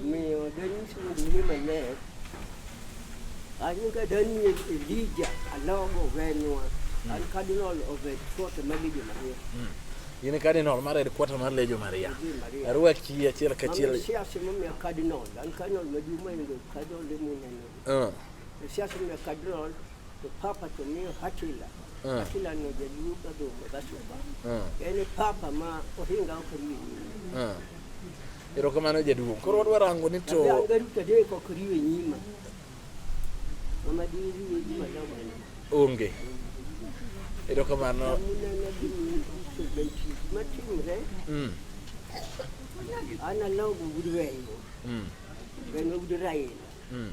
Omiyo danyisou gima maler, an ka Daniel Elija Alogo Venwa, an Cardinal of the Court of Legion Maria. In e cardinal mar headquarter mar Legion Maria. Legion Maria. Arwaki achiel kachiel. Mami siasa momiya cardinal, an cardinal maduong' mohingo cardinal emuneno. Uh. Siasa momiya cardinal, to papa to miyo hatila. Eh. lakini anojajiuka dhumu gashuba eh. yani papa ma ohinga okoriwe nyima eh. erokamano jaduong' koro wadwa rango ni to angaruta deko okoriwe nyima amadiriwe nyima damani onge erokamano matimre mm. analawo gugudweyo gano gudurayena mm.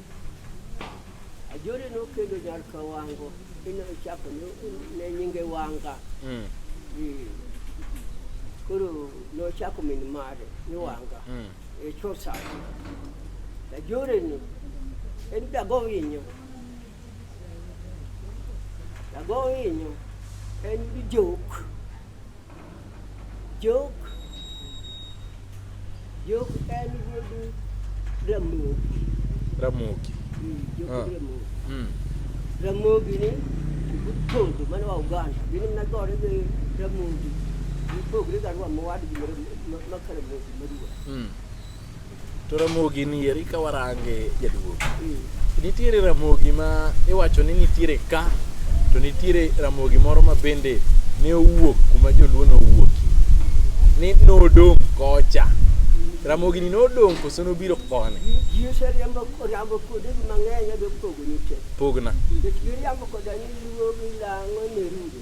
Ajore nokendo nyar ka wango ino chako ne nyinge wanga mm. koro nochako min mare ni mm. wanga mm. e chosa Ajore ni en dago winyo dago winyo en bijok Jok Jok en wuod Ramogi. Ramogi. Mm, Jok ah. Ramogi. Mm. Ramogi ni Butondo mane wa Uganda. Gini mna gore gi Ramogi. Gipogre garwa mowad gi makara Ramogi maduwa. Mm. To Ramogi ni eri ka warange jaduong'. Nitiere Ramogi ma iwacho ni nitiere ka to nitiere Ramogi moro ma bende ne owuok kuma joluo ne owuokie ni nodong' kocha. Ramogi ni nodong' koso nobiro koni? Ji oseriambo oriambo kuonde mang'eny adwa pogo ni te. Pogna. Nikech giriambo koda ni luo gilang'o ne rude.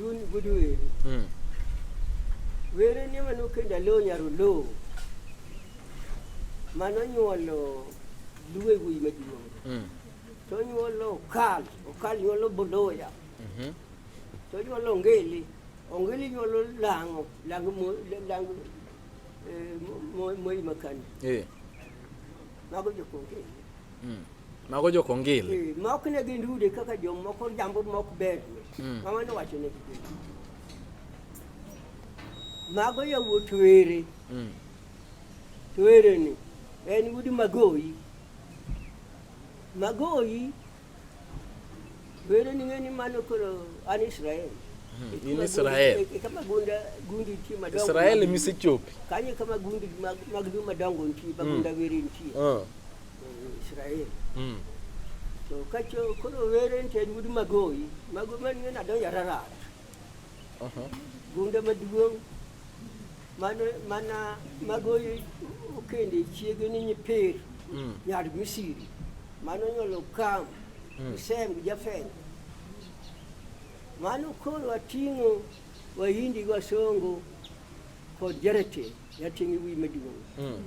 Luny gudu were. Mm. Were ni mano kenda lo nyaro lo. Mano nyuolo luwe wuyi maduong'. Mm. To nyuolo okal, okal nyuolo boloya. Mhm. To nyuolo ongili, ongili nyuolo lang'o, lang'o mo, lang'o eh, mo- mo- moyi makani. Eh. Mago jokonge. Mm. Mago jo kongil. Eh, mok ne gin rude kaka jo moko jambo mok ber. Mm. Mama no wacho ne gin. Mago yo wotwere. Mm. Twere ni en wudi magoyi. Magoyi Were ni ng'eni mano koro an Israel. Hmm, in Israel. E kama gunda gundi ti madongo. Israel misechopi. Kanye kama gundi mag mag madongo nti hmm. bagunda were nti. Ah. Eh, Israel. Mm. to kacho kono weren ten wudu magoyi mago man ngena do yarara uh-huh. gunde maduong' Mano mana mago okende chiege ni nyipir mm. nyar Misri mano nyolo Kam, mm. Sem gi Jafeth. Mano koro ating'o Wahindi gi Wasongo kod Jarete yating'i wi maduong'. Mm.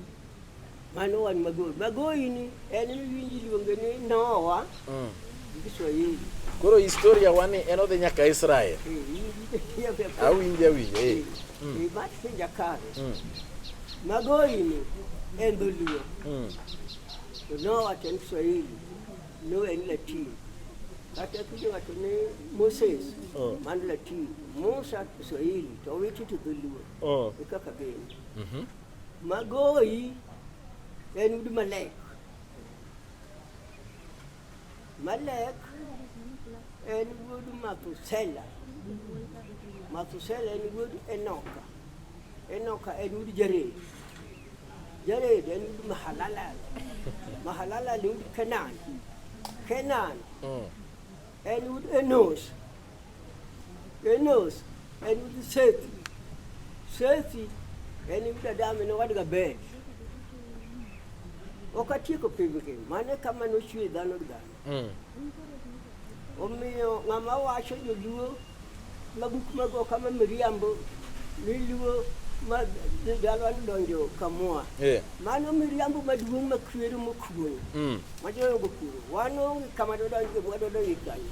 Mano wan Magoi. Magoi ni en miwinji iluonge ni Nowa mm. gi Kiswahili. Koro historia wani en odhi nyaka Israel. Eh, awinje awinje. Eh. Mm. Eh, Mati penja kare. Mm. Magoi ni en dholuo. Mm. To Nowa to en Kiswahili. No en Latin. Kata kiwacho ni Moses, oh. man Latin. Musa Kiswahili to owiti to dholuo. Oh. Ekaka gin. Mhm. Magoyi en udi malek. Malek en wuod Mathusela. Mathusela en wuod Enoka. Enoka en wuod Jared. Jared en wuod Mahalalel. Mahalalel en wuod Kenan. Kenan en wuod Enos. Enos en gi Sethi. Sethi en gi Adam en owadga Bel. Ok atieko pim gi mane kama nochwe dhano gi dhano. Mm. Omiyo ng'ama wacho joluo ma buk mago kama miriambo niluo ma dhano donjo kamua. Yeah. Mano miriambo maduong' makwero mokuoyo. Mm. Majoyo gokuoyo. Wan onge kama dodonjo kama dodonjo kanyo.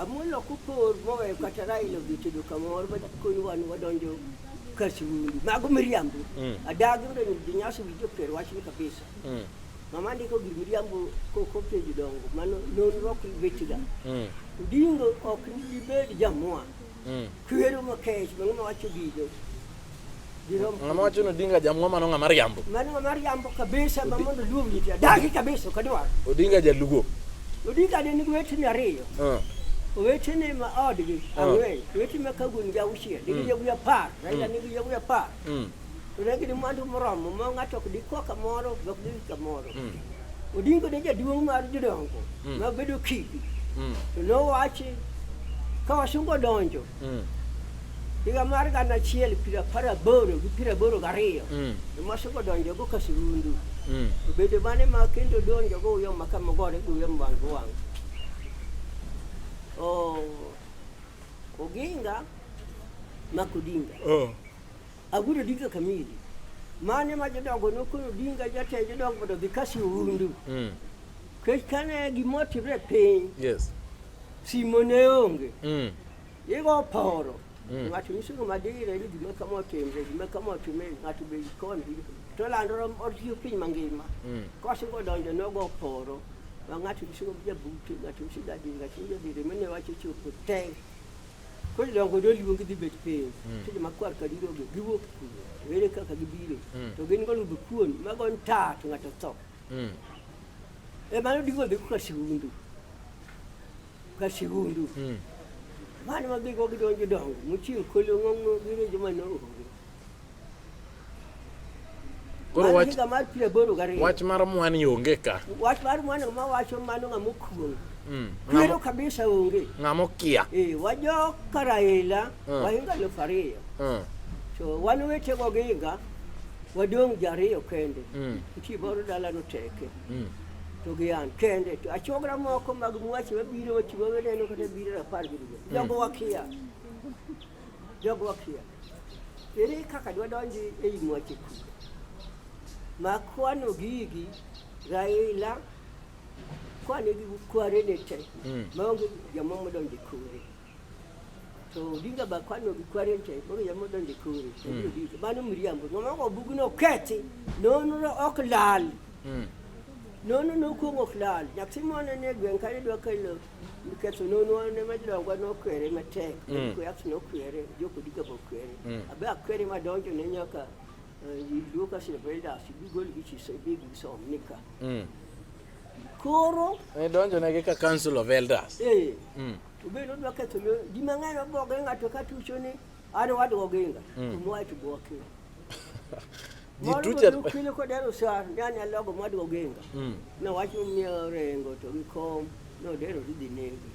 Amolo kopor moweyo kata Raila odhi tedo kamoro madakonyi wan wadonjo kar siwundi mago miriambo mm. adagi yudo ni ji nyasi winjo per wachni kabisa mm. mama ndiko gir miriambo kokopenjo dongo mano nonro ok wechega mm. Odingo ok nibed jamua kwero makech mang'ama wacho gigo Ng'ama wacho ni Odinga jamwa mano ng'ama riambo. Mano ng'ama riambo kabisa ma mondo luong ji tia. Dagi kabisa kadwaro. Odinga jaluo. Odinga ne nigi wetene ariyo. Uh. Wetene ma odgi ah. ang'wen, uh. wetene ma kaguni gi auchiel, nigi mm. yawuoyi apar, Raila mm. nigi yawuoyi apar. Mm. To ne gin mwandu moromo ma ng'ato ok dikwa kamoro, ok dhi kamoro. Mm. Odinga ne jaduong' mar jodongo mm. ma bedo kidi. Mm. To nowachi ka wasungo donjo. Mm. higa mar gana achiel piero apar aboro gi piero aboro gariyo mm. ema osekodonjogo ka surundu mm. obedo mane ma kendo donjogo uyo maka mogore gi uyo wang' gi wang' oginga mak odinga oh. Aguro dito kamili. Mane ma jodongo nokoro dinga jatend jodongo mondo dhi kasi oundu. Mm. Kech kane gimotimre piny. Yes. Simo ne onge. Mm. Igo poro. Mm. Ng'ato nyisogo madire ni gima kama otimre, gima kama otimre, ng'ato be ikon to landoro otiyo piny mangima. Mm. Kosego donjo nogo poro. Ng'ato nyisogo jabute, ng'ato nyisogo adinga, nyisogo jadire, mene wacho chopo teng'. Koro dongo do luongi dhi bet piny. Mm. Tinde makwar ka diro gi giwuok kuno. Were kaka gibiro. Mm. To gin gol du kuon mago nta to ng'ato tho. Mm. E mano digo dhi ka sigundu. Ka sigundu. Mm. Mano ma gigo gidonjo dongo. Muchieng' kolo ng'ongo gire joma no. Koro wach mar pire boro gariyo. Wach mar mwani onge ka. Wach mar mwani ma wacho mano ng'ama okuong'. Mm. Kwero kabisa onge. Ng'ama okia. Eh, wajo Karaila, mm. wahinga elfu ariyo. Mm. To wan wetego gihinga wadong' ji ariyo kende. Mm. Nitie boro dalano teke. Mm. to gi an kende to achogra moko mag mwache mabiro wachiwo weneno kata biro rapar gi dwe jogo wakia Jogo kia. Ere kaka dwa donji e yi mwache kuga. Ma kwano gigi Raila kwane gi kware ne te. Mm. Ma onge jamomo donji kure. to dinga ba kwano gi kwaren te bo ya modon de kuri to hmm. bi ba no miriambo no ma ko bugu no keti no no no ok lal hmm. no no no ko ok lal yakti mo ne ne gwen kare do kai lo ketho nono ne majlongwa nokwere matek mm. kuyas nokwere jokodiga bokwere mm. abe akwere madonjo ne nyaka eh, luoka silveldas bigol gi chiso big som nika mm. koro ne donjo ne gi ka council of elders eh to be no dwa ketho no di mang'eny oboge ng'ato ka tucho ni an wadgo ginga to mwae to bwoke ji tucha kilo ko dero sar ndani alogo madwa genga mm. na wacho mia rengo to gi kom no dero dhi negi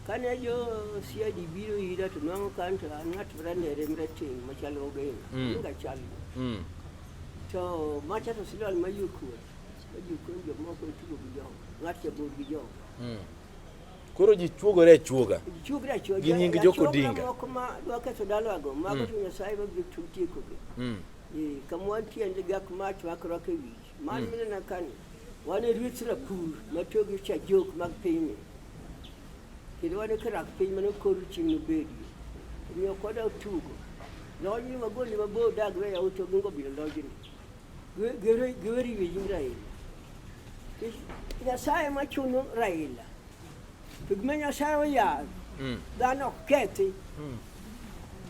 kane jo siadi biro ira to nwango kan to anat ranere mreting machalo ogenga mm. inga chal mm. to macha to silal mayukur mayukur jo moko tugo gi jo ngat jabur gi jo mm. Koro ji chuogore achuoga. Chuogore achuoga. Gi nying Joko Odinga. Moko ma dwa ketho dalago, mago mm. to Nyasaye ma biro tiekogi. Mm. Eh, kama wantie ndi gak ma chwakore e wich. Man mm. minena kani. Wan e ruoth Rapur ma tiyo gi cha jok mag pinyni. Kendo wan e karak piny mane okor chieng' nobedi. Omiyo koda otugo. Lojni magoli mabor dagre ya uto gingo bilo lojni. Gö- Göre, göri bizim Raila. Biz Nyasaye machuno Raila. To gima Nyasaye oyal, Mm. dhano ok kethi. Mm.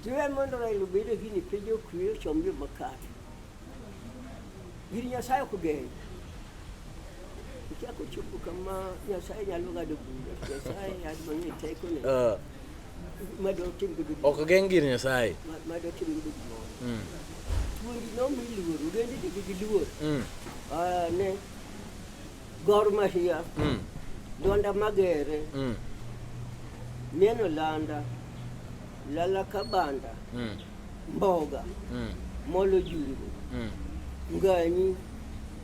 Jiwe mondo Raila obed e gini piny okwe ochom yo makare. Gini Nyasaye ok geny. Ichako chopo kama Nyasaye nyalo ng'ado bura. Nyasaye yad mang'e tekone. Uh, ok geng' gir Nyasaye. Mm. Mm. Ah, ne Gor Mahia, mm. Donda Magere, mm. Neno Landa, Lala Kabanda, mm. Mboga, mm. Molo Jungu, mm. Nganyi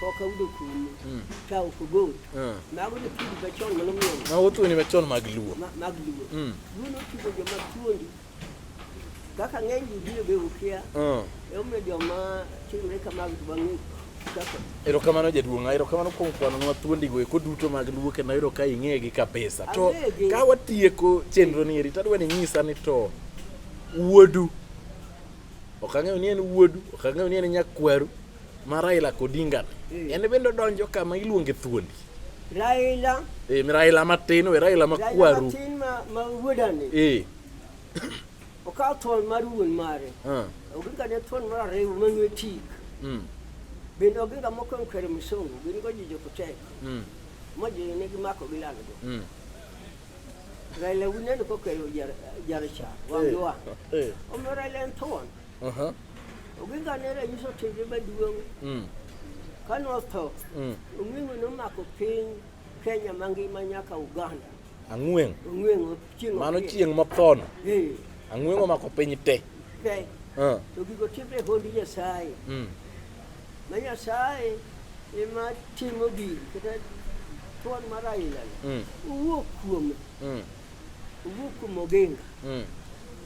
koka wudo kuno hmm. ka ok ogot hmm. mago ne tugo machon mano muono mago tugo ni machon mag luo mag luo hmm. luo notugo joma tuondi kaka ng'eny ji biro be ukia emomiyo joma timre kamago to bang'e erokamano jaduong'a erokamano kuom kwanonwa thuondigo eko duto mag luo kendo ayudo ka ing'egi kabisa to ka watieko chenro ni eri tadwa ni nyisa ni to wuodu ok ang'eyo ni en wuodu ok ang'eyo ni en nyakwaru ma Raila Odinga mm. en bende odonjo kama iluonge thuondi Raila e, Raila matin we Raila makwaru matin ma, ma wuodani e. okawo thon mar wuon mare uh. oginga ne thon mar ariyo manwe tik mm. bende oginga moko mkere msongo gin go ji jokotek mm. ma ji ne gimako gilal go mm. Raila wuneno kokelo jaracha wangiwa e. e. omiyo Raila en thon Uh-huh. Oginga ne ranyisi otimre maduong'. Mm. Ka notho, mm. Ong'weng'o nomako piny Kenya mangima nyaka Uganda. Ang'weng'. Ong'weng'o chieng' Mano chieng' mothono. Eh. Ang'weng'o omako piny te. Te. Uh. To gigo timre hond Nyasaye. Mm. Ma Nyasaye ema timo gigi kata thuon mar ailani. Mm. Owuok kuome. Mm. Owuok kuom Oginga. Mm.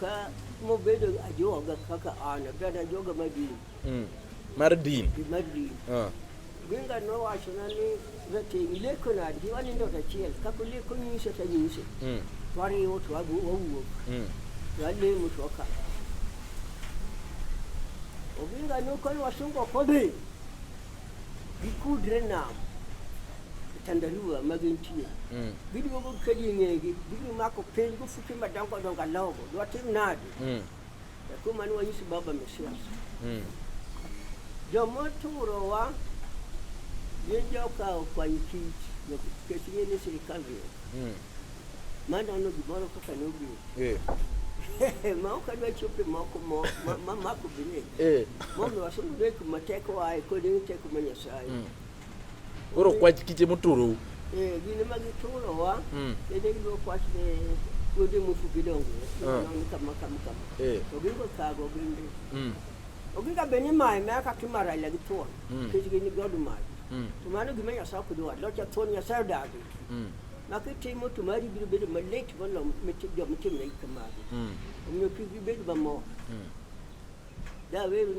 Ka mobedo ajoga kaka an, abed ajoga mar din. Mm. Mar din. Mar din. Ah. Ginga nowachona ni rateng' ileko nadi, wanindo achiel, kaka uleko nyise to anyise. Mm. Wariwo to wawuok. Mm. Walemo to waka. Oginga nokoni wasungo kodhi. Gikudre nam. Tandarua ma gintie. Mm. Giduogo kadi e ng'egi, gimako piny Timba tangu donga logo, dwa tim nadi. Mm. Ya kuma ni wanyisi baba Mesias. Mm. Jomo turo wa yenjo ka kwa nchi ya keshini ni serikali. Mm. Maana ano giboro kwa kanubi. Eh. ma ok adwa chope moko mamako bine eh. mondo wasundu dek mateko ae kod teko ma nyasaye mm. Koro kwach kiche moturou. Eh, gine ma giturowa. Mm. Bende gidwa kwach ne kuonde mofugi dongo. Ah. Nono kama kama kama. Eh. To gigo thago bende. Mm. Ogiga be ni maye ma ka kimara ile gituon. Mm. Kech gin godu maye. Mm. To mano gima Nyasaye ok dwar. Locha thuon Nyasaye odagi. Mm. Ma kitimo to mari biro bedo malit moloyo mit- joma timre kamagi. Mm. Omiyo kik gibed mamor. Mm.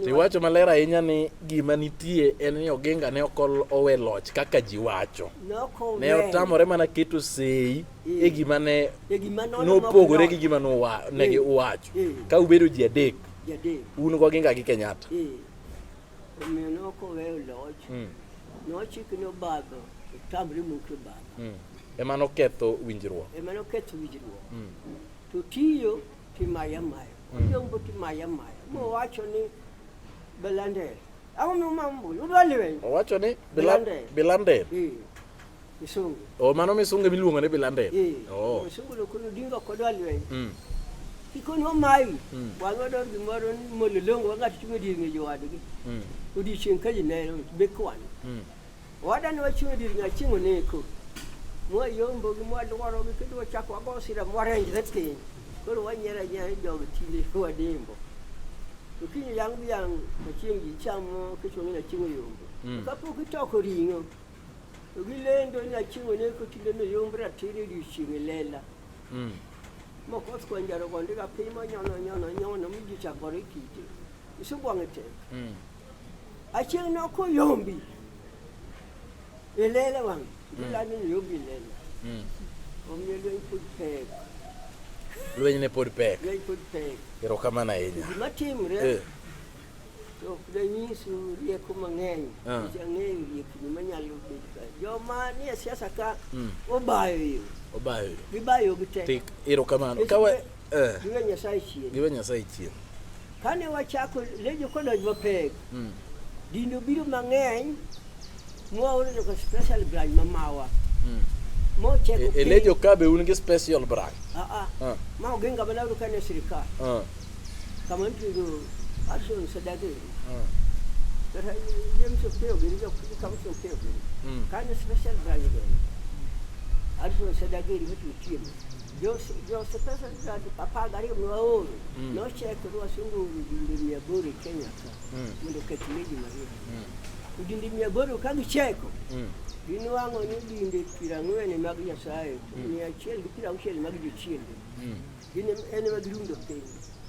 Tiwacho maler ahinya ni gima nitie en ni Oginga ne ok owe loch kaka ji wacho. Ne otamore mana keto sei e eh. gima ne eh, nopogore gi gima ne eh. giwacho. Ka ubedo ji adek, un go Oginga gi Kenyatta. Omiyo ne ok oweyo loch. Hmm. Nochik ni obadho, otamre muke obadho. Hmm. Ema noketho winjruok. Ema noketho winjruok. Hmm. To tiyo Timaya maya. Ojombo timaya maya. Mowacho ni Belandel. Ang'o mumambo? Udwa lweny. Owacho ni Belandel. Belandel. Eh. Misungu. Oh, mano misungu miluongo ni Belandel. Eh. Oh. Misungu lokolo dingo kodwa lweny. Mm. Kikon wamayi. Mm. Wan wador gimoro ni mololongo wang'ato chung' e dier ng'eyo wadgi. Mm. Odiechieng' ka ji neno bekwan. Mm. Owadani wachung' e dir ng'aching' oneko. Mwayombo gi mwaluoro gi kendo wachako wago sira mwarenjre piny. Koro wanyiero anyiera jogo tinde wadimbo. To kiny yang' gi yang' achieng' ji chamo kichwa ng'ina chieng' oyombo. Mm. Kapok itoko ring'o to gilendo ni achieng' oneko tinde noyomb ratiro e odiechieng' e lela. Mm. Mokoth kwanjaro gonde ga piny monyono nyono nyono mi ji chakore kite. Isubwang'e tek. Mm. Achieng' ne ok oyombi e lela wang' ilani ni yombi e lela Mm. omiyo lweny pod pek Lweny ne pod pek. lweny pod pek Erokamano ahinya. gima timre Eh, to ok danyisu rieko mang'eny Ah. nikech ang'eyo riekni manyalo bedo ka joma nie siasa ka Mm. obayo yo obayo. gibayo gi te Tik, erokamano. Kawa eh. giwe nyasaye chien giwe nyasaye chien kane wachako lejo kodonj mapek mm. dino biro mang'eny mwaoro joka special branch mamawa mm. mocheko e, e lejo kabe un gi special branch ah, ah. ah. ma ogenga mana uru kane sirikal ah. kama ntigo action sadagi ah. kata james opeo gini jok kama opeo gini mm. kane special branch gini action sadagi iri mitu chiemo Jose, Jose pesa zake papa gari mwaoru mm. no check ruwa sungu ujindi mia bori Kenya ka mm. mundo ketumeji maria mm. ujindi mia bori kagi cheko mm. Dini wango ni dinde pira ngwene mag Nyasaye mm. mia achiel gi pira auchiel mag jochiende mm. dine en mag rundo piny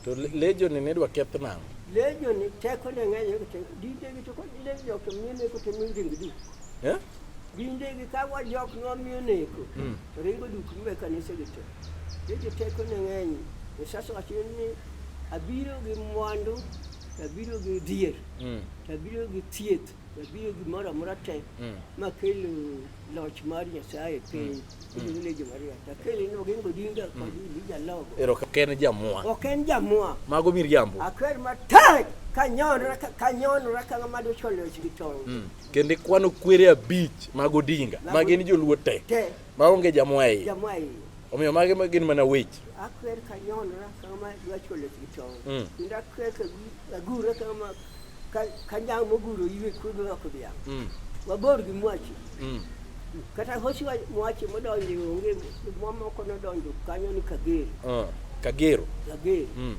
to lejo ni ne dwa keth nang'o lejo ni teko ne ng'eny dinde gi to kod lejo to mine ko to mine gi du eh Dinde gi kawa jok nomiyo neko. Mm. Ringo duk mbe kanisa gito. Yesu teko ne ng'eny. E sasa wacho ni abiro gi mwandu, abiro gi dier, mm. abiro gi thieth, abiro gi moro amora te mm. ma kelo loch mar Nyasaye piny. Mm. Ile jo Maria. Takeli no gingo dinga kwa dinga logo. Ero ken jamwa. Ok en jamwa. Mago mir jambo. Akwer matek kanyonra kanyonra kama mado cholo chigitong. Mm. kendo ikwano kwere abich mag Odinga ma gin joluo te ma onge jamwa iye omiyo mage ma gin mana weche akwer ka nyonra kama dwacholo kichon mm. kendo akwer ka agure kama ka nyang moguro iwe kudo roko dhiang' mm. wabor gi mwachi mm. Kata hosi mwache modonje onge mamoko nodonjo kanyo ni Kagero. Uh, Kagero. Kagero. Mm.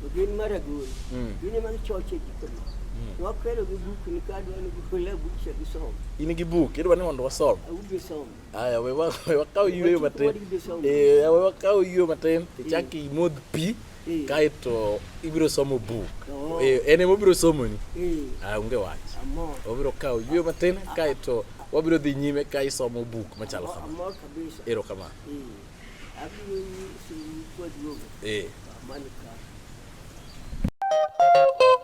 Ogin mar Agoro. Mm. Gine mag choche jikoni. Mm. Wakelo gi buk ni kadwa ni gole buk cha gi somo. In gi buk idwa ni mondo wasom. Awuge somo. Aya we wa we wakaw yweyo matin. Eh we wakaw yweyo matin. Ichaki e modh pi. Eh. kaeto ibiro somo buk oh. eh, en ema obiro somoni eh. ah, onge wach obiro kawo yweyo matin kaeto wabiro dhi nyime ka isomo buk machalo kama ero kama